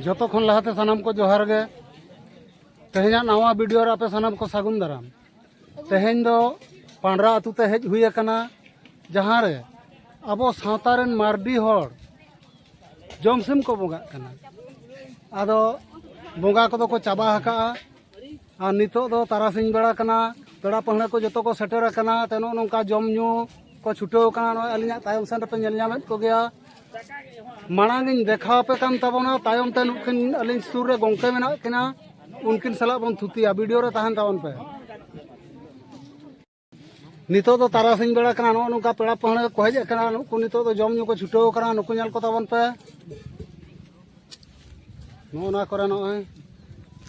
ᱡᱚᱛᱚ ᱠᱷᱚᱱ ᱞᱟᱦᱟᱛᱮ ᱥᱟᱱᱟᱢ ᱠᱚ ᱡᱚᱦᱟᱨ ᱜᱮ ᱛᱮᱦᱮᱧᱟᱜ ᱱᱟᱣᱟ ᱵᱷᱤᱰᱤᱭᱳ ᱨᱮ ᱟᱯᱮ ᱥᱟᱱᱟᱢ ᱠᱚ ᱥᱟᱹᱜᱩᱱ ᱫᱟᱨᱟᱢ ᱛᱮᱦᱮᱧ ᱫᱚ ᱯᱟᱸᱰᱨᱟ ᱟᱹᱛᱩ ᱛᱮ ᱦᱮᱡ ᱦᱩᱭ ᱟᱠᱟᱱᱟ ᱡᱟᱦᱟᱸ ᱨᱮ ᱟᱵᱚ ᱥᱟᱶᱛᱟ ᱨᱮᱱ ᱢᱟᱨᱰᱤ ᱦᱚᱲ ᱡᱚᱢ ᱥᱤᱢ ᱠᱚ ᱵᱚᱸᱜᱟᱜ ᱠᱟᱱᱟ ᱟᱫᱚ ᱵᱚᱸᱜᱟ ᱠᱚᱫᱚ ᱠᱚ ᱪᱟᱵᱟ ᱟᱠᱟᱜᱼᱟ ᱟᱨ ᱱᱤᱛᱚᱜ ᱫᱚ ᱛᱟᱨᱟᱥᱤᱧ ᱵᱮᱲᱟ ᱠᱟᱱᱟ ᱯᱮᱲᱟ ᱯᱟᱹᱲᱦᱟᱹ ᱠᱚ ᱡᱚᱛᱚ ᱠᱚ ᱥᱮᱴᱮᱨ ᱟᱠᱟᱱᱟ ᱛᱚ ᱱᱚᱜᱼᱚ ᱱᱚᱝᱠᱟ ᱡᱚᱢ ᱧᱩ ᱠᱚ ᱪᱷᱩᱴᱟᱹᱣ ᱟᱠᱟᱱᱟ ᱱᱚᱜᱼᱚᱭ ᱟᱹᱞᱤᱧᱟᱜ ᱛᱟᱭᱚᱢ ᱥᱮᱱ ᱨᱮᱯᱮ ᱧᱮᱞ ᱧᱟᱢᱮᱫ ᱠᱚᱜᱮᱭᱟ ᱢᱟᱲᱟᱝ ᱤᱧ ᱫᱮᱠᱷᱟᱣ ᱟᱯᱮ ᱠᱟᱱ ᱛᱟᱵᱚᱱᱟ ᱛᱟᱭᱚᱢ ᱛᱮ ᱱᱩᱠᱤᱱ ᱟᱹᱞᱤᱧ ᱥᱩᱨ ᱨᱮ ᱜᱚᱝᱠᱮ ᱢᱮᱱᱟᱜ ᱠᱤᱱᱟ ᱩᱱᱠᱤᱱ ᱥᱟᱞᱟᱜ ᱵᱚᱱ ᱛᱷᱩᱛᱤᱭᱟ ᱵᱷᱤᱰᱤᱭᱳ ᱨᱮ ᱛᱟᱦᱮᱱ ᱛᱟᱵᱚᱱ ᱯᱮ ᱱᱤᱛᱚᱜ ᱫᱚ ᱛᱟᱨᱟᱥᱤᱧ ᱵᱮᱲᱟ ᱠᱟᱱᱟ ᱱᱚᱜᱼᱚ ᱱᱚᱝᱠᱟ ᱯᱮᱲᱟ ᱯᱟᱹᱦᱲᱟᱹ ᱠᱚ ᱦᱮᱡ ᱟᱠᱟᱱᱟ ᱱᱩᱠᱩ ᱱᱤᱛᱚᱜ ᱫᱚ ᱡᱚᱢ ᱧᱩ ᱠᱚ ᱪᱷᱩᱴᱟᱹᱣ ᱟᱠᱟᱱᱟ ᱱᱩᱠᱩ ᱧᱮᱞ ᱠᱚ ᱛᱟᱵᱚᱱ ᱯᱮ ᱱᱚᱜᱼᱚ ᱱᱚᱣᱟ ᱠᱚᱨᱮ ᱱᱚᱜᱼᱚᱭ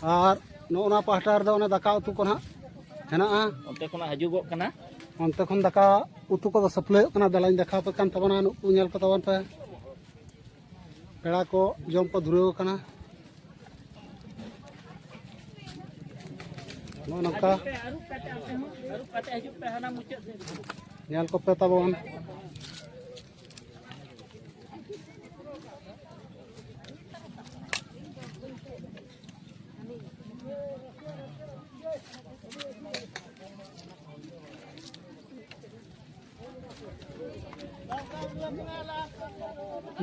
ᱟᱨ ᱱᱚᱜᱼᱚ ᱱᱚᱣᱟ ᱯᱟᱦᱴᱟ ᱨᱮᱫᱚ ᱚᱱᱮ ᱫᱟᱠᱟ ᱩᱛᱩ ᱠᱚ ᱱᱟᱜ ᱦᱮᱱᱟᱜᱼᱟ ᱚᱱᱛᱮ ᱠᱷᱚᱱᱟᱜ ᱦᱤᱡᱩᱜᱚᱜ ᱠᱟᱱᱟ ᱚᱱᱛᱮ ᱠᱷᱚᱱ ᱫᱟᱠᱟ ᱩᱛᱩ ᱠᱚᱫᱚ ᱥᱟᱹᱯᱞᱟᱹᱭᱚᱜ ᱠᱟᱱᱟ ᱫᱮᱞᱟᱧ ᱫᱮᱠᱷᱟᱣ ᱯᱮ ᱠᱟᱱ ᱛᱟᱵᱚᱱᱟ ᱱᱩᱠᱩ ᱧᱮᱞ ᱠᱚ ᱛᱟᱵᱚᱱ ᱯᱮ ᱯᱮᱲᱟ ᱠᱚ ᱡᱚᱢ ᱠᱚ ᱫᱷᱩᱨᱟᱹᱣ ᱟᱠᱟᱱᱟ ᱱᱚᱜᱼᱚ ᱱᱚᱝᱠᱟ ᱧᱮᱞ ᱠᱚᱯᱮ ᱛᱟᱵᱚᱱ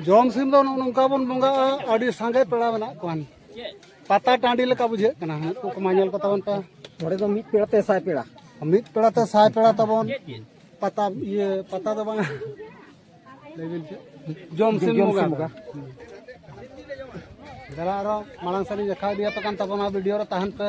ᱡᱚᱢ ᱥᱤᱢ ᱫᱚ ᱱᱚᱝᱠᱟ ᱵᱚᱱ ᱵᱚᱸᱜᱟᱜᱼᱟ ᱟᱹᱰᱤ ᱥᱟᱸᱜᱮ ᱯᱮᱲᱟ ᱢᱮᱱᱟᱜ ᱠᱚᱣᱟ ᱯᱟᱛᱟ ᱴᱟᱺᱰᱤ ᱞᱮᱠᱟ ᱵᱩᱡᱷᱟᱹᱜ ᱠᱟᱱᱟ ᱩᱱᱠᱩ ᱠᱚᱢᱟ ᱧᱮᱞ ᱠᱚ ᱛᱟᱵᱚᱱ ᱯᱮ ᱱᱚᱰᱮ ᱫᱚ ᱢᱤᱫ ᱯᱮᱲᱟ ᱛᱮ ᱥᱟᱭ ᱯᱮᱲᱟ ᱢᱤᱫ ᱯᱮᱲᱟ ᱛᱮ ᱥᱟᱭ ᱯᱮᱲᱟ ᱛᱟᱵᱚᱱ ᱯᱟᱛᱟ ᱤᱭᱟᱹ ᱯᱟᱛᱟ ᱫᱚ ᱵᱟᱝ ᱡᱚᱢ ᱥᱤᱢ ᱵᱚᱸᱜᱟ ᱫᱟᱫᱟ ᱟᱨᱚ ᱢᱟᱲᱟᱝ ᱥᱮᱫ ᱤᱧ ᱫᱮᱠᱷᱟᱣ ᱤᱫᱤᱭᱟᱯᱮ ᱠᱟᱱ ᱛᱟᱵᱚᱱᱟ ᱵᱷᱤᱰᱤᱭᱳ ᱨᱮ ᱛᱟᱦᱮᱱ ᱯᱮ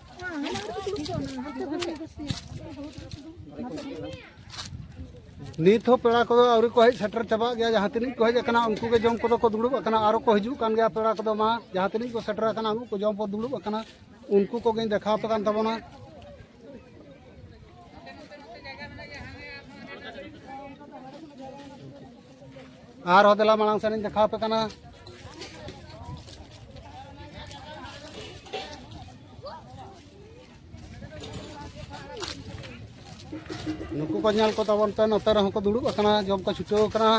ᱱᱤᱛ ᱦᱚᱸ ᱯᱮᱲᱟ ᱠᱚᱫᱚ ᱟᱹᱣᱨᱤ ᱠᱚ ᱦᱮᱡ ᱥᱮᱴᱮᱨ ᱪᱟᱵᱟᱜ ᱜᱮᱭᱟ ᱡᱟᱦᱟᱸ ᱛᱤᱱᱟᱹᱜ ᱠᱚ ᱦᱮᱡ ᱟᱠᱟᱱᱟ ᱩᱱᱠᱩ ᱜᱮ ᱡᱚᱢ ᱠᱚᱫᱚ ᱠᱚ ᱫᱩᱲᱩᱵ ᱟᱠᱟᱱᱟ ᱟᱨᱚ ᱠᱚ ᱦᱤᱡᱩᱜ ᱠᱟᱱ ᱜᱮᱭᱟ ᱯᱮᱲᱟ ᱠᱚᱫᱚ ᱢᱟ ᱡᱟᱦᱟᱸ ᱛᱤᱱᱟᱹᱜ ᱠᱚ ᱥᱮᱴᱮᱨ ᱟᱠᱟᱱᱟ ᱩᱱᱠᱩ ᱠᱚ ᱡᱚᱢ ᱠᱚ ᱫᱩᱲᱩᱵ ᱟᱠᱟᱱᱟ ᱩᱱᱠᱩ ᱠᱚᱜᱮᱧ ᱫᱮᱠᱷᱟᱣ ᱟᱯᱮ ᱠᱟᱱ ᱛᱟᱵᱚᱱᱟ ᱟᱨᱦᱚᱸ ᱫᱮᱞᱟ ᱢᱟᱲᱟᱝ ᱥᱮᱱᱤᱧ ᱫᱮᱠᱷᱟᱣ ᱟᱯᱮ ᱠᱟᱱᱟ ᱱᱩᱠᱩ ᱠᱚ ᱧᱮᱞ ᱠᱚ ᱛᱟᱵᱚᱱ ᱯᱮ ᱱᱚᱛᱮ ᱨᱮᱦᱚᱸ ᱠᱚ ᱫᱩᱲᱩᱵ ᱟᱠᱟᱱᱟ ᱡᱚᱢ ᱠᱚ ᱪᱷᱩᱴᱟᱹᱣ ᱟᱠᱟᱱᱟ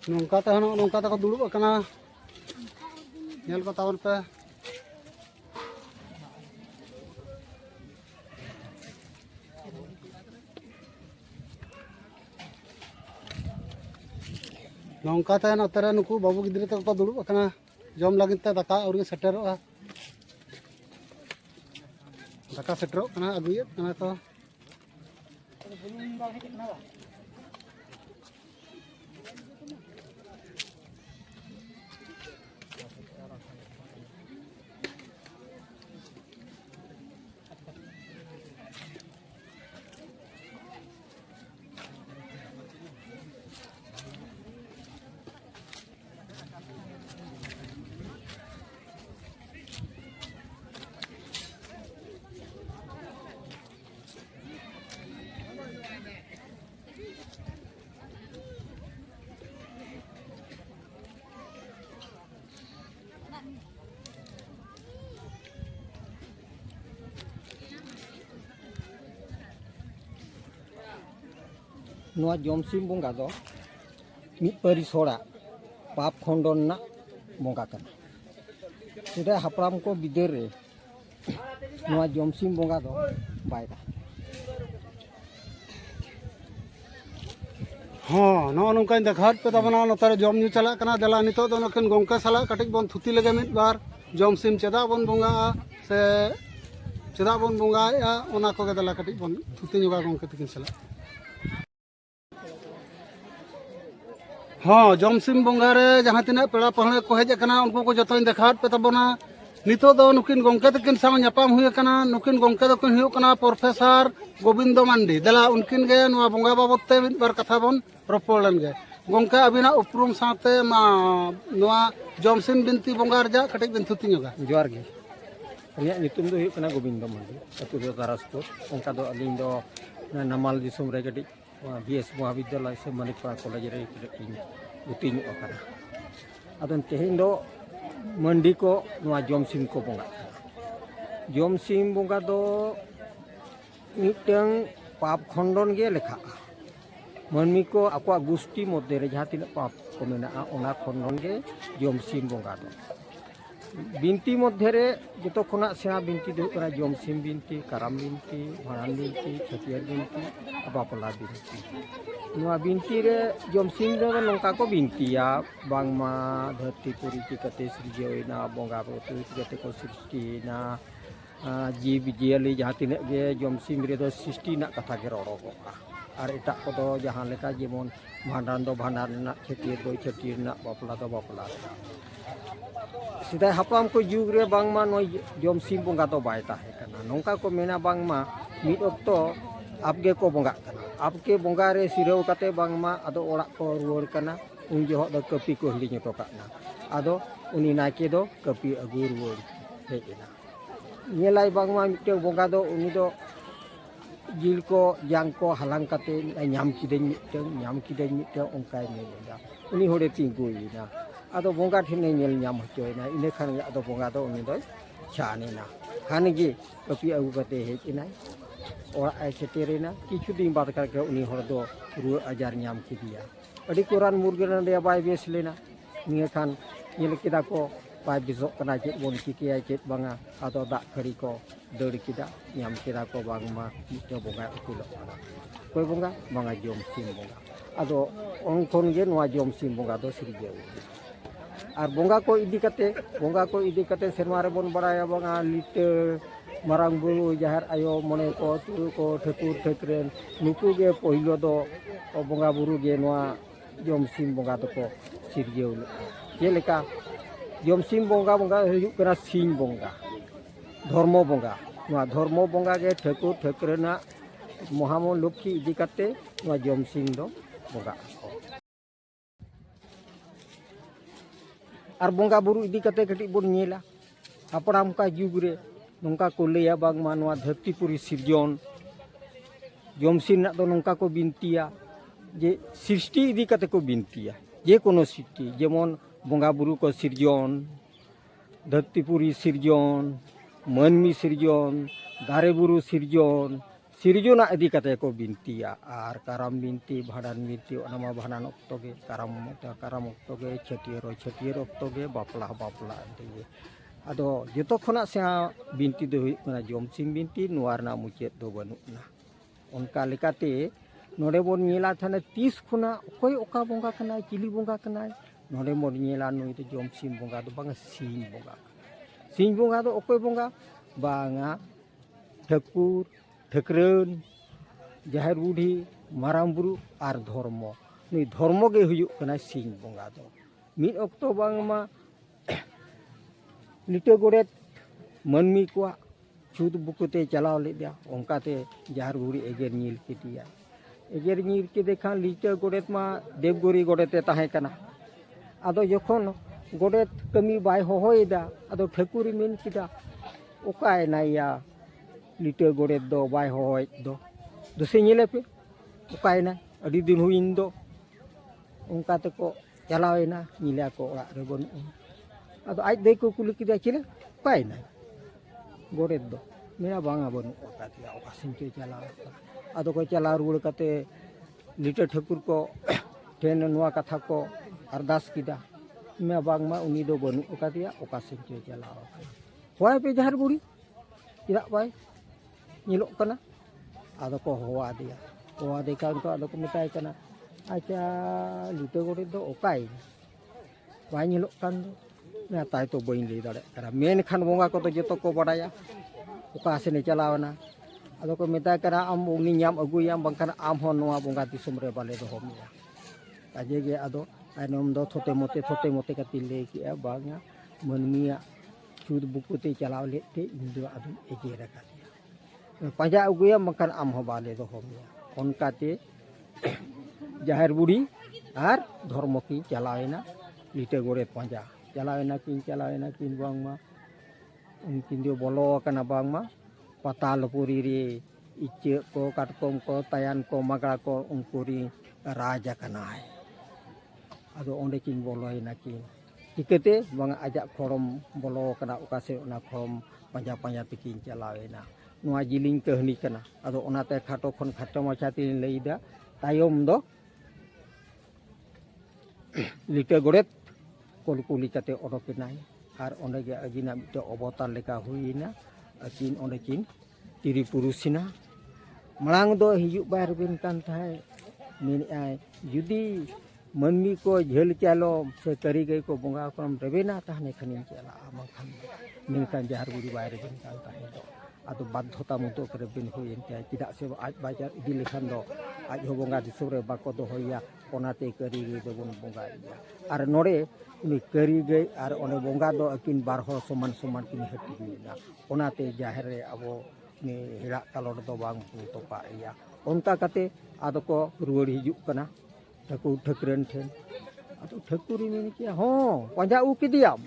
ᱱᱚᱝᱠᱟ ᱛᱮᱦᱚᱸ ᱱᱚᱜᱼᱚ ᱱᱚᱝᱠᱟ ᱛᱮᱠᱚ ᱫᱩᱲᱩᱵ ᱟᱠᱟᱱᱟ ᱧᱮᱞ ᱠᱚ ᱛᱟᱵᱚᱱ ᱯᱮ ᱱᱚᱝᱠᱟ ᱛᱮ ᱱᱚᱛᱮ ᱨᱮ ᱱᱩᱠᱩ ᱵᱟᱹᱵᱩ ᱜᱤᱫᱽᱨᱟᱹ ᱛᱮᱠᱚ ᱫᱩᱲᱩᱵ ᱟᱠᱟᱱᱟ ᱡᱚᱢ ᱞᱟᱹᱜᱤᱫ ᱛᱮ ᱫᱟᱠᱟ ᱟᱹᱣᱨᱤ ᱥᱮᱴᱮᱨᱚᱜᱼᱟ ᱫᱟᱠᱟ ᱥᱮᱴᱮᱨᱚᱜ ᱠᱟᱱᱟ ᱟᱹᱜᱩᱭᱮᱫ ᱠᱟᱱᱟ ᱠᱚ ᱱᱚᱣᱟ ᱡᱚᱢᱥᱤᱢ ᱵᱚᱸᱜᱟ ᱫᱚ ᱢᱤᱫ ᱯᱟᱹᱨᱤᱥ ᱦᱚᱲᱟᱜ ᱯᱟᱯ ᱠᱷᱚᱸᱰᱚᱱ ᱨᱮᱱᱟᱜ ᱵᱚᱸᱜᱟ ᱠᱟᱱᱟ ᱥᱮᱫᱟᱭ ᱦᱟᱯᱲᱟᱢ ᱠᱚ ᱵᱤᱫᱟᱹᱞ ᱨᱮ ᱱᱚᱣᱟ ᱡᱚᱢᱥᱤᱢ ᱵᱚᱸᱜᱟ ᱫᱚ ᱵᱟᱭ ᱛᱟᱦᱮᱸ ᱦᱚᱸ ᱱᱚᱜᱼᱚ ᱱᱚᱝᱠᱟᱧ ᱫᱮᱠᱷᱟᱣᱮᱫ ᱯᱮ ᱛᱟᱵᱚᱱᱟ ᱱᱚᱛᱮ ᱨᱮ ᱡᱚᱢ ᱧᱩ ᱪᱟᱞᱟᱜ ᱠᱟᱱᱟ ᱫᱮᱞᱟ ᱱᱤᱛᱚᱜ ᱫᱚ ᱱᱩᱠᱤᱱ ᱜᱚᱝᱠᱮ ᱥᱟᱞᱟᱜ ᱠᱟᱹᱴᱤᱡ ᱵᱚᱱ ᱛᱷᱩᱛᱤ ᱞᱮᱜᱮ ᱢᱤᱫ ᱵᱟᱨ ᱡᱚᱢ ᱥᱤᱢ ᱪᱮᱫᱟᱜ ᱵᱚᱱ ᱵᱚᱸᱜᱟᱜᱼᱟ ᱥᱮ ᱪᱮᱫᱟᱜ ᱵᱚᱱ ᱵᱚᱸᱜᱟᱭᱮᱫᱼᱟ ᱚᱱᱟ ᱠᱚᱜᱮ ᱫᱮᱞᱟ ᱠᱟᱹᱴᱤᱡ ᱵᱚᱱ ᱛᱷᱩᱛᱤ ᱧᱚᱜᱟ ᱜᱚᱝᱠᱮ ᱛᱟᱹᱠᱤᱱ ᱥᱟᱞᱟᱜ ᱦᱚᱸ ᱡᱚᱢᱥᱤᱢ ᱵᱚᱸᱜᱟ ᱨᱮ ᱡᱟᱦᱟᱸ ᱛᱤᱱᱟᱹᱜ ᱯᱮᱲᱟ ᱯᱟᱹᱦᱲᱟᱹ ᱠᱚ ᱦᱮᱡ ᱟᱠᱟᱱᱟ ᱩᱱᱠᱩ ᱠᱚ ᱡᱚᱛᱚᱧ ᱫᱮᱠᱷᱟᱣᱟᱫ ᱯᱮ ᱛᱟᱵᱚᱱᱟ ᱱᱤᱛᱚᱜ ᱫᱚ ᱱᱩᱠᱤᱱ ᱜᱚᱝᱠᱮ ᱛᱟᱹᱠᱤᱱ ᱥᱟᱶ ᱧᱟᱯᱟᱢ ᱦᱩᱭ ᱟᱠᱟᱱᱟ ᱱᱩᱠᱤᱱ ᱜᱚᱝᱠᱮ ᱫᱚᱠᱤᱱ ᱦᱩᱭᱩᱜ ᱠᱟᱱᱟ ᱯᱨᱚᱯᱷᱮᱥᱟᱨ ᱜᱳᱵᱤᱱᱫᱚ ᱢᱟᱱᱰᱤ ᱫᱮᱞᱟ ᱩᱱᱠᱤᱱ ᱜᱮ ᱱᱚᱣᱟ ᱵᱚᱸᱜᱟ ᱵᱟᱵᱚᱫ ᱛᱮ ᱢᱤᱫ ᱵᱟᱨ ᱠᱟᱛᱷᱟ ᱵᱚᱱ ᱨᱚᱯᱚᱲ ᱞᱮᱱ ᱜᱮ ᱜᱚᱝᱠᱮ ᱟᱹᱵᱤᱱᱟᱜ ᱩᱯᱨᱩᱢ ᱥᱟᱶᱛᱮ ᱢᱟ ᱱᱚᱣᱟ ᱡᱚᱢᱥᱤᱢ ᱵᱤᱱᱛᱤ ᱵᱚᱸᱜᱟ ᱨᱮᱭᱟᱜ ᱠᱟᱹᱴᱤᱡ ᱵᱤᱱ ᱛᱷᱩᱛᱤ ᱧᱚᱜᱟ ᱡᱚᱦᱟᱨ ᱜᱮ ᱤᱧᱟᱹᱜ ᱧᱩᱛᱩᱢ ᱫᱚ ᱦᱩᱭᱩᱜ ᱠᱟᱱᱟ ᱜᱳᱵᱤᱱᱫᱚ ᱢᱟᱱᱰᱤ ᱟᱹᱛᱩ ᱫᱚ ᱫᱟᱨᱟᱥᱯᱩᱨ ᱚᱱᱠᱟ ᱫᱚ ᱟᱹᱞᱤᱧ ᱫᱚ ᱱᱟᱢᱟᱞ ᱫᱤᱥᱚᱢ ᱨᱮ ᱠᱟᱹᱴᱤᱡ ᱵᱤ ᱮᱥ ᱢᱚᱦᱟᱵᱤᱫᱽᱫᱟᱞᱚᱭ ᱥᱮ ᱢᱟᱱᱤᱠᱯᱟᱲᱟ ᱠᱚᱞᱮᱡᱽ ᱨᱮ ᱠᱟᱹᱴᱤᱡ ᱤᱧ ᱵᱷᱩᱨᱛᱤ ᱧᱚᱜ ᱟᱠᱟᱱᱟ ᱟᱫᱚ ᱛᱮᱦᱮᱧ ᱫᱚ ᱢᱟᱱᱰᱤ ᱠᱚ ᱱᱚᱣᱟ ᱡᱚᱢ ᱥᱤᱢ ᱠᱚ ᱵᱚᱸᱜᱟᱜ ᱠᱟᱱᱟ ᱡᱚᱢ ᱥᱤᱢ ᱵᱚᱸᱜᱟ ᱫᱚ ᱢᱤᱫᱴᱟᱹᱝ ᱯᱟᱯ ᱠᱷᱚᱸᱰᱚᱱ ᱜᱮ ᱞᱮᱠᱷᱟᱜᱼᱟ ᱢᱟᱹᱱᱢᱤ ᱠᱚ ᱟᱠᱚᱣᱟᱜ ᱜᱩᱥᱴᱤ ᱢᱚᱫᱽᱫᱷᱮ ᱨᱮ ᱡᱟᱦᱟᱸ ᱛᱤᱱᱟᱹᱜ ᱯᱟᱯ ᱠᱚ ᱢᱮᱱᱟᱜᱼᱟ ᱚᱱᱟ ᱠᱷᱚᱱ ᱜᱮ ᱡᱚᱢᱥᱤᱢ ᱵᱚᱸᱜᱟ ᱫᱚ ᱵᱤᱱᱛᱤ ᱢᱚᱫᱽᱫᱷᱮ ᱨᱮ ᱡᱚᱛᱚ ᱠᱷᱚᱱᱟᱜ ᱥᱮᱬᱟ ᱵᱤᱱᱛᱤ ᱫᱚ ᱦᱩᱭᱩᱜ ᱠᱟᱱᱟ ᱡᱚᱢᱥᱤᱢ ᱵᱤᱱᱛᱤ ᱠᱟᱨᱟᱢ ᱵᱤᱱᱛᱤ ᱵᱷᱟᱸᱰᱟᱱ ᱵᱤᱱᱛᱤ ᱪᱷᱟᱹᱴᱭᱟᱹᱨ ᱵᱤᱱᱛᱤ ᱵᱟᱯᱞᱟ ᱵᱤᱱᱛᱤ ᱱᱚᱣᱟ ᱵᱤᱱᱛᱤ ᱨᱮ ᱡᱚᱢᱥᱤᱢ ᱫᱚ ᱱᱚᱝᱠᱟ ᱠᱚ ᱵᱤᱱᱛᱤᱭᱟ ᱵᱟᱝᱢᱟ ᱫᱷᱟᱹᱨᱛᱤ ᱯᱩᱨᱤ ᱪᱤᱠᱟᱹᱛᱮ ᱥᱤᱨᱡᱟᱹᱣᱮᱱᱟ ᱵᱚᱸᱜᱟ ᱵᱩᱨᱩ ᱪᱤᱠᱟᱹᱛᱮ ᱠᱚ ᱥᱨᱤᱥᱴᱤᱭᱮᱱᱟ ᱡᱤᱵᱽ ᱡᱤᱭᱟᱹᱞᱤ ᱡᱟᱦᱟᱸ ᱛᱤᱱᱟᱹᱜ ᱜᱮ ᱡᱚᱢᱥᱤᱢ ᱨᱮᱫᱚ ᱥᱨᱤᱥᱴᱤ ᱨᱮᱱᱟᱜ ᱠᱟᱛᱷᱟ ᱜᱮ ᱨᱚᱲᱚᱜᱚᱜᱼᱟ ᱟᱨ ᱮᱴᱟᱜ ᱠᱚᱫᱚ ᱡᱟᱦᱟᱸ ᱞᱮᱠᱟ ᱡᱮᱢᱚᱱ ᱵᱷᱟᱸᱰᱟᱱ ᱫᱚ ᱵᱷᱟᱸᱰᱟᱱ ᱨᱮᱱᱟᱜ ᱪᱷᱟᱹᱴᱭᱟᱹᱨ ᱫᱚ ᱪᱷᱟᱹᱴᱭᱟᱹᱨ ᱨᱮᱱᱟᱜ ᱵᱟᱯᱞᱟ ᱫᱚ ᱵᱟᱯᱞᱟ ᱨᱮᱱᱟᱜ ᱥᱮᱫᱟᱭ ᱦᱟᱯᱲᱟᱢ ᱠᱚ ᱡᱩᱜᱽ ᱨᱮ ᱵᱟᱝᱢᱟ ᱱᱚᱜᱼᱚᱭ ᱡᱚᱢᱥᱤᱢ ᱵᱚᱸᱜᱟ ᱫᱚ ᱵᱟᱭ ᱛᱟᱦᱮᱸ ᱠᱟᱱᱟ ᱱᱚᱝᱠᱟ ᱠᱚ ᱢᱮᱱᱟ ᱵᱟᱝᱢᱟ ᱢᱤᱫ ᱚᱠᱛᱚ ᱟᱯᱜᱮ ᱠᱚ ᱵᱚᱸᱜᱟᱜ ᱠᱟᱱᱟ ᱟᱯᱜᱮ ᱵᱚᱸᱜᱟ ᱨᱮ ᱥᱤᱨᱟᱹᱣ ᱠᱟᱛᱮ ᱵᱟᱝᱢᱟ ᱟᱫᱚ ᱚᱲᱟᱜ ᱠᱚ ᱨᱩᱣᱟᱹᱲ ᱠᱟᱱᱟ ᱩᱱ ᱡᱚᱦᱚᱜ ᱫᱚ ᱠᱟᱹᱯᱤ ᱠᱚ ᱦᱤᱲᱤᱧ ᱦᱚᱴᱚ ᱠᱟᱜ ᱠᱟᱱᱟ ᱟᱫᱚ ᱩᱱᱤ ᱱᱟᱭᱠᱮ ᱫᱚ ᱠᱟᱹᱯᱤ ᱟᱹᱜᱩ ᱨᱩᱣᱟᱹᱲ ᱦᱮᱡ ᱮᱱᱟ ᱧᱮᱞᱟᱭ ᱵᱟᱝᱢᱟ ᱢᱤᱫᱴᱟᱝ ᱵᱚᱸᱜᱟ ᱫᱚ ᱩᱱᱤ ᱫᱚ ᱡᱤᱞ ᱠᱚ ᱡᱟᱝ ᱠᱚ ᱦᱟᱞᱟᱝ ᱠᱟᱛᱮ ᱧᱟᱢ ᱠᱤᱫᱟᱹᱧ ᱢᱤᱫᱴᱟᱝ ᱧᱟᱢ ᱠᱤᱫᱟᱹᱧ ᱢᱤᱫᱴᱟᱝ ᱚᱱᱠᱟᱭ ᱢᱮᱱᱮᱫᱟ ᱩᱱᱤ ᱦᱚᱲᱮ ᱛᱤᱸᱜᱩᱭᱮᱱᱟ ᱟᱫᱚ ᱵᱚᱸᱜᱟ ᱴᱷᱮᱱᱮ ᱧᱮᱞ ᱧᱟᱢ ᱦᱚᱪᱚᱭᱮᱱᱟ ᱤᱱᱟᱹ ᱠᱷᱟᱱ ᱜᱮ ᱟᱫᱚ ᱵᱚᱸᱜᱟ ᱫᱚ ᱩᱱᱤ ᱫᱚᱭ ᱪᱷᱟᱱ ᱮᱱᱟ ᱠᱷᱟᱱ ᱜᱮ ᱠᱟᱹᱯᱤ ᱟᱹᱜᱩ ᱠᱟᱛᱮ ᱦᱮᱡ ᱮᱱᱟᱭ ᱚᱲᱟᱜ ᱮ ᱥᱮᱴᱮᱨᱮᱱᱟ ᱠᱤᱪᱷᱩ ᱫᱤᱱ ᱵᱟᱫ ᱠᱟᱛᱮ ᱩᱱᱤ ᱦᱚᱲ ᱫᱚ ᱨᱩᱣᱟᱹ ᱟᱡᱟᱨ ᱧᱟᱢ ᱠᱮᱫᱮᱭᱟ ᱟᱹᱰᱤ ᱠᱚ ᱨᱟᱱ ᱢᱩᱨᱜᱟᱹᱱ ᱟᱫᱮᱭᱟ ᱵᱟᱭ ᱵᱮᱥ ᱞᱮᱱᱟ ᱱᱤᱭᱟᱹ ᱠᱷᱟᱱ ᱧᱮᱞ ᱠᱮᱫᱟ ᱠᱚ ᱵᱟᱭ ᱵᱮᱥᱚᱜ ᱠᱟᱱᱟ ᱪᱮᱫ ᱵᱚᱱ ᱪᱤᱠᱟᱹᱭᱟ ᱪᱮᱫ ᱵᱟᱝᱟ ᱟᱫᱚ ᱫᱟᱜ ᱠᱷᱟᱹᱲᱤ ᱠᱚ ᱫᱟᱹᱲ ᱠᱮᱫᱟ ᱧᱟᱢ ᱠᱮᱫᱟ ᱠᱚ ᱵᱟᱝᱢᱟ ᱢᱤᱫᱴᱮᱱ ᱵᱚᱸᱜᱟᱭ ᱩᱯᱮᱞᱚᱜ ᱠᱟᱱᱟ ᱚᱠᱚᱭ ᱵᱚᱸᱜᱟ ᱵᱟᱝᱟ ᱡᱚᱢ ᱥᱤᱢ ᱵᱚᱸᱜᱟ ᱟᱫᱚ ᱩᱱ ᱠᱷᱚᱱ ᱜᱮ ᱱᱚᱣᱟ ᱡᱚᱢ ᱥᱤᱢ ᱵᱚᱸᱜᱟ ᱫᱚ ᱥᱤᱨᱡᱟᱹᱣ ᱟᱨ ᱵᱚᱸᱜᱟ ᱠᱚ ᱤᱫᱤ ᱠᱟᱛᱮ ᱵᱚᱸᱜᱟ ᱠᱚ ᱤᱫᱤ ᱠᱟᱛᱮ ᱥᱮᱨᱢᱟ ᱨᱮᱵᱚᱱ ᱵᱟᱲᱟᱭᱟ ᱵᱟᱝᱟ ᱞᱤᱴᱟᱹ ᱢᱟᱨᱟᱝ ᱵᱩᱨᱩ ᱡᱟᱦᱮᱨ ᱟᱭᱳ ᱢᱚᱬᱮ ᱠᱚ ᱛᱩᱨᱩᱭ ᱠᱚ ᱴᱷᱟᱹᱠᱩᱨ ᱴᱷᱟᱹᱠᱨᱮᱱ ᱱᱩᱠᱩ ᱜᱮ ᱯᱳᱭᱞᱳ ᱫᱚ ᱵᱚᱸᱜᱟ ᱵᱩᱨᱩ ᱜᱮ ᱱᱚᱣᱟ ᱡᱚᱢ ᱥᱤᱢ ᱵᱚᱸᱜᱟ ᱫᱚᱠᱚ ᱥᱤᱨᱡᱟᱹᱣ ᱞᱮᱫᱼᱟ ᱪᱮᱫ ᱞᱮᱠᱟ ᱡᱚᱢ ᱥᱤᱢ ᱵᱚᱸᱜᱟ ᱵᱚᱸᱜᱟ ᱦᱩᱭᱩᱜ ᱠᱟᱱᱟ ᱥᱤᱧ ᱵᱚᱸᱜᱟ ᱫᱷᱚᱨᱢᱚ ᱵᱚᱸᱜᱟ ᱱᱚᱣᱟ ᱫᱷᱚᱨᱢᱚ ᱵᱚᱸᱜᱟ ᱜᱮ ᱴᱷᱟᱹᱠᱩᱨ ᱴᱷᱟᱹᱠ ᱨᱮᱱᱟᱜ ᱢᱚᱦᱟᱢᱚᱱ ᱞᱚᱠᱠᱷᱤ ᱤᱫᱤ ᱠᱟᱛᱮ ᱱᱚᱣᱟ ᱡᱚᱢ ᱥᱤᱢ ᱫᱚ ᱵᱚᱸᱜᱟᱜ ᱟᱠᱚ ᱟᱨ ᱵᱚᱸᱜᱟ ᱵᱩᱨᱩ ᱤᱫᱤ ᱠᱟᱛᱮ ᱠᱟᱹᱴᱤᱡ ᱵᱚᱱ ᱧᱮᱞᱟ ᱦᱟᱯᱲᱟᱢ ᱠᱟ ᱡᱩᱜᱽ ᱨᱮ ᱱᱚᱝᱠᱟ ᱠᱚ ᱞᱟᱹᱭᱟ ᱵᱟᱝᱢᱟ ᱱᱚᱣᱟ ᱫᱷᱟᱹᱨᱛᱤ ᱯᱩᱨᱤ ᱥᱤᱨᱡᱚᱱ ᱡᱚᱢᱥᱤ ᱨᱮᱱᱟᱜ ᱫᱚ ᱱᱚᱝᱠᱟ ᱠᱚ ᱵᱤᱱᱛᱤᱭᱟ ᱡᱮ ᱥᱨᱤᱥᱴᱤ ᱤᱫᱤ ᱠᱟᱛᱮ ᱠᱚ ᱵᱤᱱᱛᱤᱭᱟ ᱡᱮ ᱠᱳᱱᱳ ᱥᱨᱤᱥᱴᱤ ᱡᱮᱢᱚᱱ ᱵᱚᱸᱜᱟ ᱵᱩᱨᱩ ᱠᱚ ᱥᱤᱨᱡᱚᱱ ᱫᱷᱟᱹᱨᱛᱤ ᱯᱩᱨᱤ ᱥᱤᱨᱡᱚᱱ ᱢᱟᱹᱱᱢᱤ ᱥᱤᱨᱡᱚᱱ ᱫᱟᱨᱮ ᱵᱩᱨᱩ ᱥᱤᱨᱡᱚᱱ ᱥᱤᱨᱡᱚᱱᱟᱜ ᱤᱫᱤ ᱠᱟᱛᱮ ᱠᱚ ᱵᱤᱱᱛᱤᱭᱟ ᱟᱨ ᱠᱟᱨᱟᱢ ᱵᱤᱱᱛᱤ ᱵᱷᱟᱸᱰᱟᱱ ᱵᱤᱱᱛᱤ ᱚᱱᱟ ᱢᱟ ᱵᱷᱟᱸᱰᱟᱱ ᱚᱠᱛᱚ ᱜᱮ ᱠᱟᱨᱟᱢ ᱢᱤᱫᱴᱟᱝ ᱠᱟᱨᱟᱢ ᱚᱠᱛᱚ ᱜᱮ ᱪᱷᱟᱹᱴᱭᱟᱹᱨ ᱦᱚᱸ ᱪᱷᱟᱹᱴᱭᱟᱹᱨ ᱚᱠᱛᱚ ᱜᱮ ᱵᱟᱯᱞᱟ ᱦᱚᱸ ᱵᱟᱯᱞᱟ ᱚᱠᱛᱚ ᱜᱮ ᱟᱫᱚ ᱡᱚᱛᱚ ᱠᱷᱚᱱᱟᱜ ᱥᱮᱬᱟ ᱵᱤᱱᱛᱤ ᱫᱚ ᱦᱩᱭᱩᱜ ᱠᱟᱱᱟ ᱡᱚᱢᱥᱤᱢ ᱵᱤᱱᱛᱤ ᱱᱚᱣᱟ ᱨᱮᱱᱟᱜ ᱢᱩᱪᱟᱹᱫ ᱫᱚ ᱵᱟᱹᱱᱩᱜ ᱟᱱᱟ ᱚᱱᱠᱟ ᱞᱮᱠᱟᱛᱮ ᱱᱚᱰᱮ ᱵᱚᱱ ᱧᱮᱞᱟ ᱛᱟᱦᱚᱞᱮ ᱛᱤᱥ ᱠᱷᱚᱱᱟᱜ ᱚᱠᱚᱭ ᱚᱠᱟ ᱵᱚᱸᱜᱟ ᱠᱟᱱᱟᱭ ᱪᱤᱞᱤ ᱵᱚᱸᱜᱟ ᱠᱟᱱᱟᱭ ᱱᱚᱰᱮ ᱵᱚᱱ ᱧᱮᱞᱟ ᱱᱩᱭ ᱫᱚ ᱡᱚᱢᱥᱤᱢ ᱵᱚᱸᱜᱟ ᱫᱚ ᱵᱟᱝᱟ ᱥᱤᱧ ᱵᱚᱸᱜᱟ ᱠᱟᱱᱟᱭ ᱥᱤᱧ ᱵᱚᱸᱜᱟ ᱫᱚ ᱚᱠᱚᱭ ᱵᱚᱸᱜᱟ ᱵᱟᱝᱟ ᱴᱷᱟᱹᱠᱩᱨ ᱴᱷᱟᱹᱠᱨᱟᱹᱱ ᱡᱟᱦᱮᱨ ᱵᱩᱰᱷᱤ ᱢᱟᱨᱟᱝ ᱵᱩᱨᱩ ᱟᱨ ᱫᱷᱚᱨᱢᱚ ᱱᱩᱭ ᱫᱷᱚᱨᱢᱚ ᱜᱮ ᱦᱩᱭᱩᱜ ᱠᱟᱱᱟᱭ ᱥᱤᱧ ᱵᱚᱸᱜᱟ ᱫᱚ ᱢᱤᱫ ᱚᱠᱛᱚ ᱵᱟᱝᱢᱟ ᱞᱤᱴᱟᱹ ᱜᱚᱰᱮᱛ ᱢᱟᱹᱱᱢᱤ ᱠᱚᱣᱟᱜ ᱪᱷᱩᱸᱛ ᱵᱩᱠᱟᱹᱛᱮ ᱪᱟᱞᱟᱣ ᱞᱮᱫᱟ ᱚᱱᱠᱟᱛᱮ ᱡᱟᱦᱮᱨ ᱵᱩᱰᱷᱤ ᱮᱜᱮᱨ ᱧᱤᱨ ᱠᱮᱫᱮᱭᱟᱭ ᱮᱜᱮᱨ ᱧᱤᱨ ᱠᱮᱫᱮ ᱠᱷᱟᱱ ᱞᱤᱪᱟᱹ ᱜᱚᱰᱮᱛ ᱢᱟ ᱫᱮᱵᱽᱜᱩᱨᱤ ᱜᱚᱰᱮᱛᱮ ᱛᱟᱦᱮᱸ ᱠᱟᱱᱟ ᱟᱫᱚ ᱡᱚᱠᱷᱚᱱ ᱜᱚᱰᱮᱛ ᱠᱟᱹᱢᱤ ᱵᱟᱭ ᱦᱚᱦᱚᱭᱮᱫᱟ ᱟᱫᱚ ᱴᱷᱟᱹᱠᱩᱨᱮ ᱢᱮᱱ ᱠᱮᱫᱟ ᱚᱠᱟᱭᱮᱱᱟᱭᱟ ᱞᱤᱴᱟᱹ ᱜᱚᱰᱮᱛ ᱫᱚ ᱵᱟᱭ ᱦᱚᱦᱚᱭᱮᱫ ᱫᱚ ᱫᱩᱥᱮ ᱧᱮᱞᱮᱯᱮ ᱚᱠᱟᱭᱮᱱᱟᱭ ᱟᱹᱰᱤ ᱫᱤᱱ ᱦᱩᱭᱮᱱ ᱫᱚ ᱚᱱᱠᱟ ᱛᱮᱠᱚ ᱪᱟᱞᱟᱣ ᱮᱱᱟ ᱧᱮᱞᱮ ᱟᱠᱚ ᱚᱲᱟᱜ ᱨᱮ ᱵᱟᱹᱱᱩᱜᱼᱟ ᱟᱫᱚ ᱟᱡ ᱫᱟᱹᱭ ᱠᱚ ᱠᱩᱞᱤ ᱠᱮᱫᱮᱭᱟ ᱪᱮᱞᱮ ᱚᱠᱟᱭᱮᱱᱟᱭ ᱜᱚᱰᱮᱛ ᱫᱚ ᱢᱮᱱᱟ ᱵᱟᱝᱟ ᱵᱟᱹᱱᱩᱜ ᱟᱠᱟᱫᱮᱭᱟ ᱚᱠᱟ ᱥᱮᱱ ᱪᱚᱭ ᱪᱟᱞᱟᱣ ᱟᱠᱟᱱᱟ ᱟᱫᱚ ᱠᱚ ᱪᱟᱞᱟᱣ ᱨᱩᱣᱟᱹᱲ ᱠᱟᱛᱮ ᱞᱤᱴᱟᱹ ᱴᱷᱟᱹᱠᱩᱨ ᱠᱚ ᱴᱷᱮᱱ ᱱᱚᱣᱟ ᱠᱟᱛᱷᱟ ᱠᱚ ᱟᱨᱫᱟᱥ ᱠᱮᱫᱟ ᱢᱮᱱᱟ ᱵᱟᱝᱢᱟ ᱩᱱᱤ ᱫᱚ ᱵᱟᱹᱱᱩᱜ ᱟᱠᱟᱫᱮᱭᱟ ᱚᱠᱟ ᱥᱮᱱ ᱪᱚᱭ ᱪᱟᱞᱟᱣ ᱟᱠᱟᱱᱟ ᱦᱚᱦᱚᱣᱟᱭ ᱯᱮ ᱡᱟᱦᱮᱨ ᱵᱩᱲᱦᱤ ᱪᱮᱫᱟᱜ ᱵᱟᱭ ᱧᱮᱞᱚᱜ ᱠᱟᱱᱟ ᱟᱫᱚ ᱠᱚ ᱦᱚᱦᱚ ᱟᱫᱮᱭᱟ ᱦᱚᱦᱚ ᱟᱫᱮ ᱠᱷᱟᱱ ᱠᱚ ᱟᱫᱚ ᱠᱚ ᱢᱮᱛᱟᱭ ᱠᱟᱱᱟ ᱟᱪᱪᱷᱟ ᱞᱤᱴᱟᱹ ᱜᱚᱰᱮᱛ ᱫᱚ ᱚᱠᱟᱭ ᱵᱟᱭ ᱧᱮᱞᱚᱜ ᱠᱟᱱ ᱫᱚ ᱢᱮᱱᱟ ᱛᱟᱭ ᱛᱚ ᱵᱟᱹᱧ ᱞᱟᱹᱭ ᱫᱟᱲᱮᱭᱟᱜ ᱠᱟᱱᱟ ᱢᱮᱱᱠᱷᱟᱱ ᱵᱚᱸᱜᱟ ᱠᱚᱫᱚ ᱡᱚᱛᱚ ᱠᱚ ᱵᱟᱰᱟᱭᱟ ᱚᱠᱟ ᱥᱮᱱᱮ ᱪᱟᱞᱟᱣᱮᱱᱟ ᱟᱫᱚ ᱠᱚ ᱢᱮᱛᱟᱭ ᱠᱟᱱᱟ ᱟᱢ ᱩᱱᱤ ᱧᱟᱢ ᱟᱹᱜᱩᱭᱟᱢ ᱵᱟᱝᱠᱷᱟᱱ ᱟᱢ ᱦᱚᱸ ᱱᱚᱣᱟ ᱵᱚᱸᱜᱟ ᱫᱤᱥᱚᱢ ᱨᱮ ᱵᱟᱞᱮ ᱫᱚᱦᱚ ᱢᱮᱭᱟ ᱠᱟᱡᱮ ᱜᱮ ᱟᱫᱚ ᱛᱟᱭᱱᱚᱢ ᱫᱚ ᱛᱷᱚᱛᱮ ᱢᱚᱛᱮ ᱛᱷᱚᱛᱮ ᱢᱚᱛᱮ ᱠᱟᱛᱮ ᱞᱟᱹᱭ ᱠᱮᱜᱼᱟ ᱵᱟᱝᱟ ᱢᱟᱹᱱᱢᱤᱭᱟᱜ ᱪᱩᱛ ᱵᱩᱠᱩᱛᱮ ᱪᱟᱞᱟᱣ ᱞᱮᱫ ᱛᱮ ᱤᱧ ᱫᱚ ᱟᱫᱚ ᱮᱜᱮᱨ ᱟᱠᱟᱫᱮᱭᱟ ᱯᱟᱸᱡᱟ ᱟᱹᱜᱩᱭᱟ ᱵᱟᱝᱠᱷᱟᱱ ᱟᱢ ᱦᱚᱸ ᱵᱟᱞᱮ ᱫᱚᱦᱚ ᱢᱮᱭᱟ ᱚᱱᱠᱟᱛᱮ ᱡᱟᱦᱮᱨ ᱵᱩᱲᱦᱤ ᱟᱨ ᱫᱷᱚᱨᱢᱚ ᱠᱤᱱ ᱪᱟᱞᱟᱣᱮᱱᱟ ᱞᱤᱴᱟᱹ ᱜᱚᱲᱮ ᱯᱟᱸᱡᱟ ᱪᱟᱞᱟᱣᱮᱱᱟ ᱠᱤᱱ ᱪᱟᱞᱟᱣᱮᱱᱟ ᱠᱤᱱ ᱵᱟᱝᱢᱟ ᱩᱱᱠᱤᱱ ᱫᱚ ᱵᱚᱞᱚ ᱟᱠᱟᱱᱟ ᱵᱟᱝᱢᱟ ᱯᱟᱛᱟᱞᱯᱩᱨᱤ ᱨᱮ ᱤᱪᱟᱹᱜ ᱠᱚ ᱠᱟᱴᱠᱚᱢ ᱠᱚ ᱛᱟᱭᱟᱱ ᱠᱚ ᱢᱟᱜᱽᱲᱟ ᱠᱚ ᱩᱱᱠᱩ ᱨᱤᱱ ᱨᱟᱡᱽ ᱟᱠᱟᱱᱟᱭ ᱟᱫᱚ ᱚᱸᱰᱮ ᱠᱤᱱ ᱵᱚᱞᱚᱭᱮᱱᱟ ᱠᱤᱱ ᱪᱤᱠᱟᱹᱛᱮ ᱵᱟᱝ ᱟᱡᱟᱜ ᱠᱷᱚᱲᱚᱢ ᱵᱚᱞᱚ ᱟᱠᱟᱱᱟ ᱚᱠᱟ ᱥᱮᱫ ᱚᱱᱟ ᱠᱷᱚᱲᱚᱢ ᱯᱟᱸᱡᱟ ᱯᱟᱸᱡᱟ ᱛᱮᱠᱤᱱ ᱪᱟᱞᱟᱣᱮᱱᱟ ᱱᱚᱣᱟ ᱡᱤᱞᱤᱧ ᱠᱟᱹᱦᱱᱤ ᱠᱟᱱᱟ ᱟᱫᱚ ᱚᱱᱟᱛᱮ ᱠᱷᱟᱴᱚ ᱠᱷᱚᱱ ᱠᱷᱟᱴᱚ ᱢᱟᱪᱷᱟ ᱛᱮᱧ ᱞᱟᱹᱭᱫᱟ ᱛᱟᱭᱚᱢ ᱫᱚ ᱞᱤᱴᱟᱹ ᱜᱚᱰᱮᱛ ᱠᱚᱞ ᱠᱩᱞᱤ ᱠᱟᱛᱮ ᱚᱰᱚᱠᱮᱱᱟᱭ ᱟᱨ ᱚᱸᱰᱮ ᱜᱮ ᱟᱹᱠᱤᱱᱟᱜ ᱢᱤᱫᱴᱮᱱ ᱚᱵᱚᱛᱟᱨ ᱞᱮᱠᱟ ᱦᱩᱭᱮᱱᱟ ᱟᱹᱠᱤᱱ ᱚᱸᱰᱮ ᱠᱤᱱ ᱛᱤᱨᱤ ᱯᱩᱨᱩᱥᱤᱱᱟ ᱢᱟᱲᱟᱝ ᱫᱚ ᱦᱤᱡᱩᱜ ᱵᱟᱭ ᱨᱮᱵᱮᱱ ᱠᱟᱱ ᱛᱟᱦᱮᱸᱫ ᱢᱮᱱᱮᱫᱼᱟᱭ ᱡᱩᱫᱤ ᱢᱟᱹᱱᱢᱤ ᱠᱚ ᱡᱷᱟᱹᱞ ᱪᱟᱞᱚᱢ ᱥᱮ ᱠᱟᱹᱨᱤᱜᱟᱹᱭ ᱠᱚ ᱵᱚᱸᱜᱟ ᱠᱚᱢ ᱨᱮᱵᱮᱱᱟ ᱛᱟᱦᱚᱞᱮ ᱠᱷᱟᱱᱤᱧ ᱪᱟᱞᱟᱜᱼᱟ ᱵᱟᱝᱠᱷᱟᱱ ᱢᱮᱱᱠᱷᱟᱱ ᱡᱟᱦᱮᱨ ᱵᱩᱨᱩ ᱵᱟᱭ ᱨᱮᱵᱮᱱ ᱠᱟᱱ ᱛᱟᱦᱮᱸᱫ ᱫᱚ ᱟᱫᱚ ᱵᱟᱫᱽᱫᱷᱚᱛᱟ ᱢᱩᱛᱚᱠ ᱨᱮᱵᱮᱱ ᱦᱩᱭᱮᱱ ᱛᱟᱭᱟ ᱪᱮᱫᱟᱜ ᱥᱮ ᱟᱡ ᱵᱟᱭ ᱤᱫᱤ ᱞᱮᱠᱷᱟᱱ ᱫᱚ ᱟᱡ ᱦᱚᱸ ᱵᱚᱸᱜᱟ ᱫᱤᱥᱚᱢ ᱨᱮ ᱵᱟᱠᱚ ᱫᱚᱦᱚᱭᱮᱭᱟ ᱚᱱᱟᱛᱮ ᱠᱟᱹᱨᱤᱜᱟᱹᱭ ᱫᱚᱵᱚᱱ ᱵᱚᱸᱜᱟᱭᱮᱭᱟ ᱟᱨ ᱱᱚᱰᱮ ᱩᱱᱤ ᱠᱟᱹᱨᱤᱜᱟᱹᱭ ᱟᱨ ᱚᱸᱰᱮ ᱵᱚᱸᱜᱟ ᱫᱚ ᱟᱹᱠᱤᱱ ᱵᱟᱨ ᱦᱚᱲ ᱥᱚᱢᱟᱱ ᱥᱚᱢᱟᱱ ᱠᱤᱱ ᱦᱟᱹᱴᱤᱧ ᱮᱱᱟ ᱚᱱᱟᱛᱮ ᱡᱟᱦᱮᱨ ᱨᱮ ᱟᱵᱚ ᱦᱮᱲᱟᱜ ᱠᱟᱞᱚᱴ ᱫᱚ ᱵᱟᱝ ᱵᱚᱱ ᱛᱚᱯᱟᱜ ᱮᱭᱟ ᱚᱱᱠᱟ ᱠᱟᱛᱮ ᱟᱫᱚ ᱠᱚ ᱨᱩᱣᱟᱹᱲ ᱦᱤᱡᱩᱜ ᱠᱟᱱᱟ ᱴᱷᱟᱹᱠᱩᱨ ᱴᱷᱟᱹᱠᱨᱟᱹᱱ ᱴᱷᱮᱱ ᱟᱫᱚ ᱴᱷᱟᱹᱠᱩᱨᱮ ᱢᱮᱱ ᱠᱮᱫᱟ ᱦᱚᱸ ᱯᱟᱸᱡᱟ ᱟᱹᱜᱩ ᱠᱮᱫᱮᱭᱟᱢ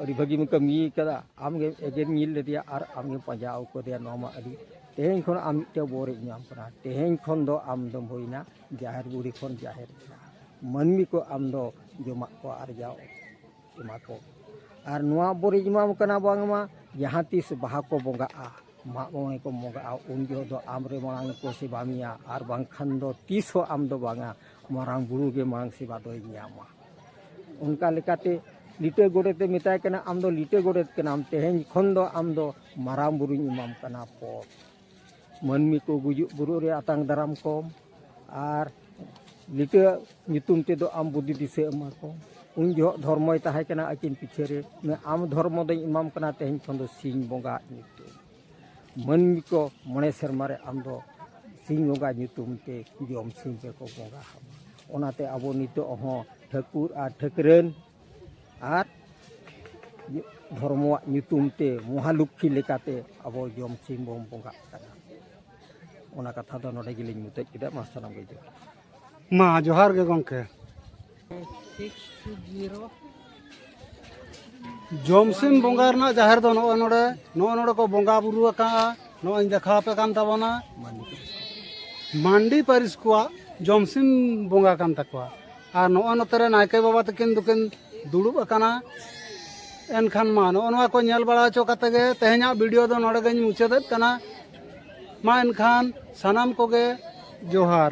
ᱟᱹᱰᱤ ᱵᱷᱟᱹᱜᱤᱢ ᱠᱟᱹᱢᱤ ᱠᱟᱫᱟ ᱟᱢᱜᱮ ᱮᱜᱮᱨ ᱧᱤᱨ ᱞᱮᱫᱮᱭᱟ ᱟᱨ ᱟᱢᱜᱮᱢ ᱯᱟᱸᱡᱟ ᱟᱹᱜᱩ ᱠᱮᱫᱮᱭᱟ ᱱᱚᱣᱟ ᱢᱟ ᱟᱹᱰᱤ ᱛᱮᱦᱮᱧ ᱠᱷᱚᱱ ᱟᱢ ᱢᱤᱫᱴᱮᱱ ᱵᱚᱨᱮᱢ ᱧᱟᱢ ᱠᱟᱱᱟ ᱛᱮᱦᱮᱧ ᱠᱷᱚᱱ ᱫᱚ ᱟᱢ ᱫᱚᱢ ᱦᱩᱭᱱᱟ ᱡᱟᱦᱮᱨ ᱵᱩᱲᱦᱤ ᱠᱷᱚᱱ ᱡᱟᱦᱮᱨ ᱮᱨᱟ ᱢᱟᱹᱱᱢᱤ ᱠᱚ ᱟᱢ ᱫᱚ ᱡᱚᱢᱟᱜ ᱠᱚ ᱟᱨᱡᱟᱣ ᱮᱢᱟ ᱠᱚ ᱟᱨ ᱱᱚᱣᱟ ᱵᱚᱱ ᱨᱤᱡ ᱮᱢᱟᱢ ᱠᱟᱱᱟ ᱵᱟᱝᱢᱟ ᱡᱟᱦᱟᱸ ᱛᱤᱥ ᱵᱟᱦᱟ ᱠᱚ ᱵᱚᱸᱜᱟᱜᱼᱟ ᱢᱟᱜ ᱢᱚᱬᱮ ᱠᱚ ᱵᱚᱸᱜᱟᱜᱼᱟ ᱩᱱ ᱡᱚᱦᱚᱜ ᱫᱚ ᱟᱢ ᱨᱮ ᱢᱟᱲᱟᱝ ᱠᱚ ᱥᱮᱵᱟ ᱢᱮᱭᱟ ᱟᱨ ᱵᱟᱝᱠᱷᱟᱱ ᱫᱚ ᱛᱤᱥ ᱦᱚᱸ ᱟᱢ ᱫᱚ ᱵᱟᱝᱟ ᱢᱟᱨᱟᱝ ᱵᱩᱨᱩ ᱜᱮ ᱢᱟᱲᱟᱝ ᱥᱮᱵᱟ ᱫᱚᱭ ᱧᱟᱢᱟ ᱚᱱᱠᱟ ᱞᱮᱠᱟᱛᱮ ᱞᱤᱴᱟᱹ ᱜᱚᱰᱮᱛᱮ ᱢᱮᱛᱟᱭ ᱠᱟᱱᱟ ᱟᱢ ᱫᱚ ᱞᱤᱴᱟᱹ ᱜᱚᱰᱮᱛ ᱠᱟᱱᱟᱢ ᱛᱮᱦᱮᱧ ᱠᱷᱚᱱ ᱫᱚ ᱟᱢ ᱫᱚ ᱢᱟᱨᱟᱝ ᱵᱩᱨᱩᱧ ᱮᱢᱟᱢ ᱠᱟᱱᱟ ᱯᱚᱫᱽ ᱢᱟᱹᱱᱢᱤ ᱠᱚ ᱜᱩᱡᱩᱜ ᱵᱩᱨᱩᱜ ᱨᱮ ᱟᱛᱟᱝ ᱫᱟᱨᱟᱢ ᱠᱚᱢ ᱟᱨ ᱞᱤᱴᱟᱹ ᱧᱩᱛᱩᱢ ᱛᱮᱫᱚ ᱟᱢ ᱵᱩᱫᱷᱤ ᱫᱤᱥᱟᱹ ᱮᱢᱟ ᱠᱚᱢ ᱩᱱ ᱡᱚᱦᱚᱜ ᱫᱷᱚᱨᱢᱚᱭ ᱛᱟᱦᱮᱸ ᱠᱟᱱᱟ ᱟᱹᱠᱤᱱ ᱯᱤᱪᱷᱟᱹ ᱨᱮ ᱟᱢ ᱫᱷᱚᱨᱢᱚ ᱫᱚᱧ ᱮᱢᱟᱢ ᱠᱟᱱᱟ ᱛᱮᱦᱮᱧ ᱠᱷᱚᱱ ᱫᱚ ᱥᱤᱧ ᱵᱚᱸᱜᱟ ᱧᱩᱛᱩᱢ ᱢᱟᱹᱱᱢᱤ ᱠᱚ ᱢᱚᱬᱮ ᱥᱮᱨᱢᱟ ᱨᱮ ᱟᱢ ᱫᱚ ᱥᱤᱧ ᱵᱚᱸᱜᱟ ᱧᱩᱛᱩᱢ ᱛᱮ ᱡᱚᱢ ᱥᱤᱧ ᱨᱮᱠᱚ ᱵᱚᱸᱜᱟ ᱟᱢᱟ ᱚᱱᱟᱛᱮ ᱟᱵᱚ ᱱᱤᱛᱚᱜ ᱦᱚᱸ ᱴᱷᱟᱹᱠᱩᱨ ᱟᱨ ᱴᱷᱟᱹᱠᱨᱟᱹᱱ ᱟᱨ ᱫᱷᱚᱨᱢᱚᱣᱟᱜ ᱧᱩᱛᱩᱢ ᱛᱮ ᱢᱚᱦᱟᱞᱚᱠᱠᱷᱤ ᱞᱮᱠᱟᱛᱮ ᱟᱵᱚ ᱡᱚᱢ ᱥᱤᱢ ᱵᱚᱱ ᱵᱚᱸᱜᱟᱜ ᱠᱟᱱᱟ ᱚᱱᱟ ᱠᱟᱛᱷᱟ ᱫᱚ ᱱᱚᱰᱮ ᱜᱮᱞᱤᱧ ᱢᱩᱪᱟᱹᱫ ᱠᱮᱫᱟ ᱢᱟ ᱥᱟᱱᱟᱢ ᱜᱮ ᱡᱚᱦᱟᱨ ᱢᱟ ᱡᱚᱦᱟᱨ ᱜᱮ ᱜᱚᱢᱠᱮ ᱡᱚᱢ ᱥᱤᱢ ᱵᱚᱸᱜᱟ ᱨᱮᱱᱟᱜ ᱡᱟᱦᱮᱨ ᱫᱚ ᱱᱚᱜᱼᱚᱭ ᱱᱚᱰᱮ ᱱᱚᱜᱼᱚᱭ ᱱᱚᱰᱮ ᱠᱚ ᱵᱚᱸᱜᱟ ᱵᱩᱨᱩ ᱟᱠᱟᱜᱼᱟ ᱱᱚᱜᱼᱚᱭ ᱫᱮᱠᱷᱟᱣ ᱟᱯᱮ ᱠᱟᱱ ᱛᱟᱵᱚᱱᱟ ᱢᱟᱱᱰᱤ ᱯᱟᱹᱨᱤᱥ ᱠᱚᱣᱟᱜ ᱡᱚᱢ ᱥᱤᱢ ᱵᱚᱸᱜᱟ ᱠᱟᱱ ᱛᱟᱠᱚᱣᱟ ᱟᱨ ᱱᱚᱜᱼᱚ ᱱᱚᱛᱮ ᱨᱮ ᱱᱟᱭᱠᱮ ᱵᱟᱵᱟ ᱛᱟᱹᱠᱤᱱ ᱫᱚᱠᱤᱱ ᱫᱩᱲᱩᱵ ᱟᱠᱟᱱᱟ ᱮᱱᱠᱷᱟᱱ ᱢᱟ ᱱᱚᱜᱼᱚ ᱱᱚᱣᱟ ᱠᱚ ᱧᱮᱞ ᱵᱟᱲᱟ ᱦᱚᱪᱚ ᱠᱟᱛᱮ ᱜᱮ ᱛᱮᱦᱮᱧᱟᱜ ᱵᱷᱤᱰᱤᱭᱳ ᱫᱚ ᱱᱚᱰᱮ ᱜᱮᱧ ᱢᱩᱪᱟᱹᱫᱮᱫ ᱠᱟᱱᱟ ᱢᱟ ᱮᱱᱠᱷᱟᱱ ᱥᱟᱱᱟᱢ ᱠᱚᱜᱮ ᱡᱚᱦᱟᱨ